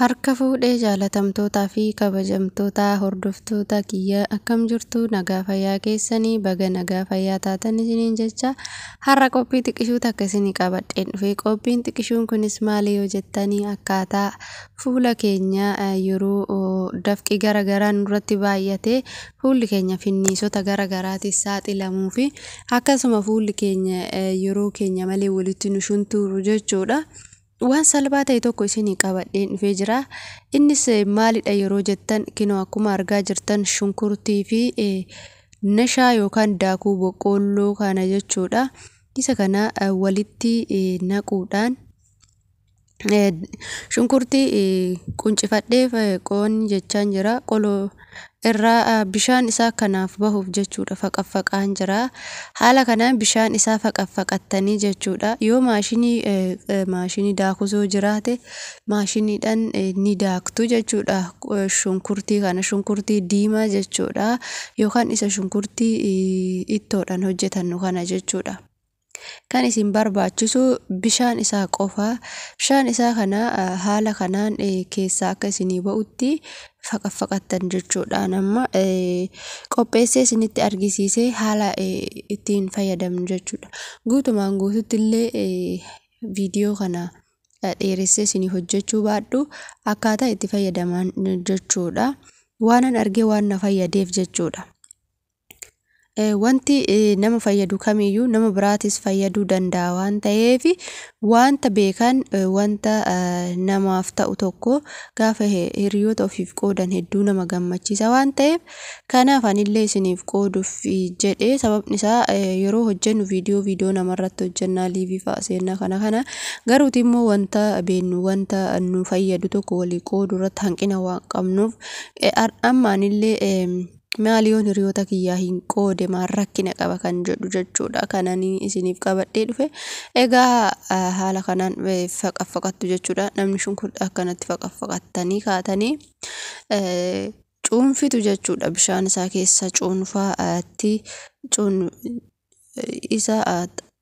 Harka fuudhee jaalatamtootaa fi kabajamtoota hordoftoota kiyya akkam jirtu nagaa fayyaa keessanii baga nagaa fayyaa taatan isiniin jecha har'a qophii xiqishuu takka isinii qabadheen dhufee qophiin xiqishuun kunis maali yoo jettanii akkaataa fuula keenya yeroo dafqii gara garaa nurratti baay'ate fuulli keenya finniisota gara garaatiif saaxilamuu fi akkasuma fuulli keenya yeroo keenya malee walitti nu shuntuuru jechuudha. Waan salphaa ta'e tokko isinii qabadheen dhufee jira. Innis maalidha yeroo jettan kinoo akkuma argaa jirtan shunkurtii fi nashaa yookaan daakuu boqqoolloo kana jechuudha. Isa kana walitti naquudhaan shunkurtii quncifadheef qoon jechaan jira. Qoloo irraa bishaan isaa kanaaf bahuuf jechuudha faqaffaqaan jira. Haala kanaan bishaan isaa faqaffaqattanii jechuudha. Yoo maashinii maashinii daakusoo jiraate maashiniidhaan ni daaktu jechuudha. Shunkurtii kana shunkurtii diimaa jechuudha. Yookaan isa shunkurtii ittoodhaan hojjetannu kana jechuudha. Kan isin barbaachisu bishaan isaa qofa. Bishaan isaa kana haala kanaan keessaa akka isinii ba'utti faqaffaqattan jechuudhaan amma qopheessee isinitti argisiisee haala ittiin fayyadamnu jechuudha. Guutumaan guututti illee viidiyoo kana dheeressee isinii hojjechuu baadhu akkaataa itti fayyadaman jechuudha. Waanan argee waan na fayyadeef jechuudha. Wanti nama fayyadu kamiyyuu nama biraatis fayyaduu danda'a waan ta'eef wanta beekan wanta namaaf ta'u tokko gaafa hiriyoota ofiif qoodan hedduu nama gammachiisa waan ta'eef kanaaf anillee isiniif qooduuf jedhee sababni isaa yeroo hojjennu viidiyoo viidiyoo namarratti hojjennaa liivii fa'a seennaa kana kana garuuti immoo wanta beennu wanta nu fayyadu tokko walii qooduu irratti hanqina waan qabnuuf amma anillee Maal yoon hiriyoota kiyyaa hin qoode maal rakkina qaba kan jedhu jechuudha kanan isiniif qabadhee dhufe. Egaa haala kanaan faqaffaqattu jechuudha. Namni shunkurtii akkanatti faqaffaqattanii kaatanii cuunfitu jechuudha. Bishaan isaa keessa cuunfaatti isa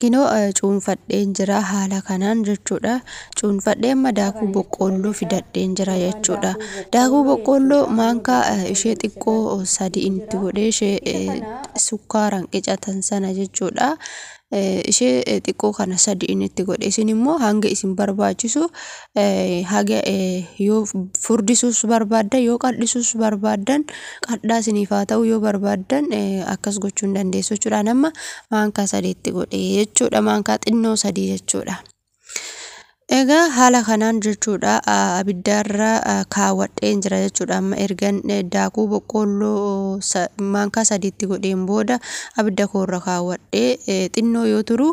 Kinoo cuunfadheen jira haala kanaan jechuudha. Cuunfadhee amma daakuu boqqoolloo fidadheen jira jechuudha. Daakuu boqqoolloo maankaa ishee xiqqoo sadii itti godhee ishee sukkaaraan qicatan sana jechuudha. Ishee xiqqoo kana sadii itti godhe isin immoo hanga isin barbaachisu haga yoo furdisuus barbaaddan yoo qadhisuus barbaaddan qadhaa isiniif haa ta'u yoo barbaaddan akkas gochuu ni dandeessu jechuudha. Amma maankaa sadiitti godhe jechuudha maankaa xinnoo sadii jechuudha. Egaa haala kanaan jechuudha abiddaarra kaawwadheen jira jechuudha amma ergan daakuu boqqoolloo maankaa sadiitti godheen booda abidda koorra kaawwadhee xinnoo yoo turu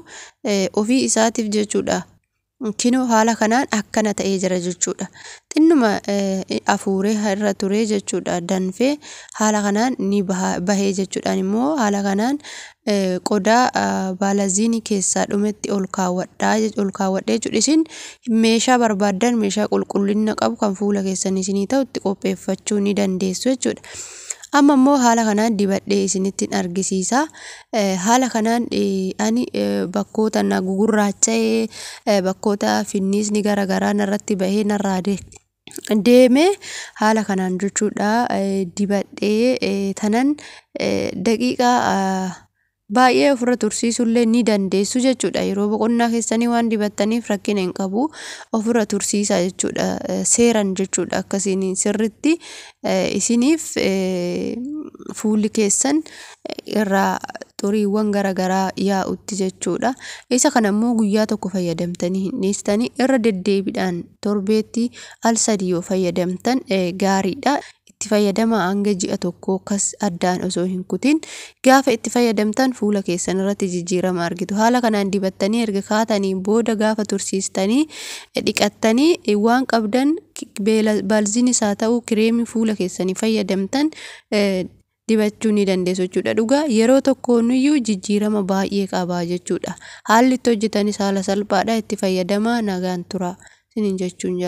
ofii isaatiif jechuudha Kinoo haala kanaan akkana ta'ee jira jechuudha. Xinnuma afuuree irra turee jechuudha danfee haala kanaan ni bahee jechuudhaan immoo haala kanaan qodaa baalaziinii keessaa dhumetti ol kaawwadhaa ol kaawwadhee jechuudha. Isin meeshaa barbaaddan meeshaa qulqullina qabu kan fuula keessan isinii ta'u itti qopheeffachuu ni dandeessu jechuudha. Amma immoo haala kanaan dibadhee isinittiin argisiisa. Haala kanaan ani bakkoota na gugurraacha'ee bakkoota finniisni gara garaa narratti bahee narraa deeme haala kanaan jechuudha dibadhee tanan daqiiqaa Baay'ee ofirra tursiisuullee ni dandeessu jechuudha. Yeroo boqonnaa keessanii waan dibattaniif rakkina hin qabu. Ofirra tursiisaa jechuudha. Seeran jechuudha akkasiin sirritti isiniif fuulli keessan irraa xuriiwwan garaagaraa yaa'utti jechuudha. Isa kana immoo guyyaa tokko fayyadamtanii hin dhiistanii irra deddeebiidhaan torbeetti al sadii yoo fayyadamtan gaariidha. itti fayyadamaa hanga ji'a tokkoo kas addaan osoo hin kutin gaafa itti fayyadamtan fuula keessan irratti jijjiirama argitu haala kanaan dibattanii erga kaatanii booda gaafa tursiistanii dhiqattanii waan qabdan baalziinis haa ta'u kireemii fuula keessanii fayyadamtan dibachuu ni dandeessu jechuudha dhugaa yeroo tokkoonuyyuu jijjiirama baay'ee qabaa jechuudha haalli itti hojjetanis haala salphaadha itti fayyadamaa nagaan tura sinin jechuun jaala.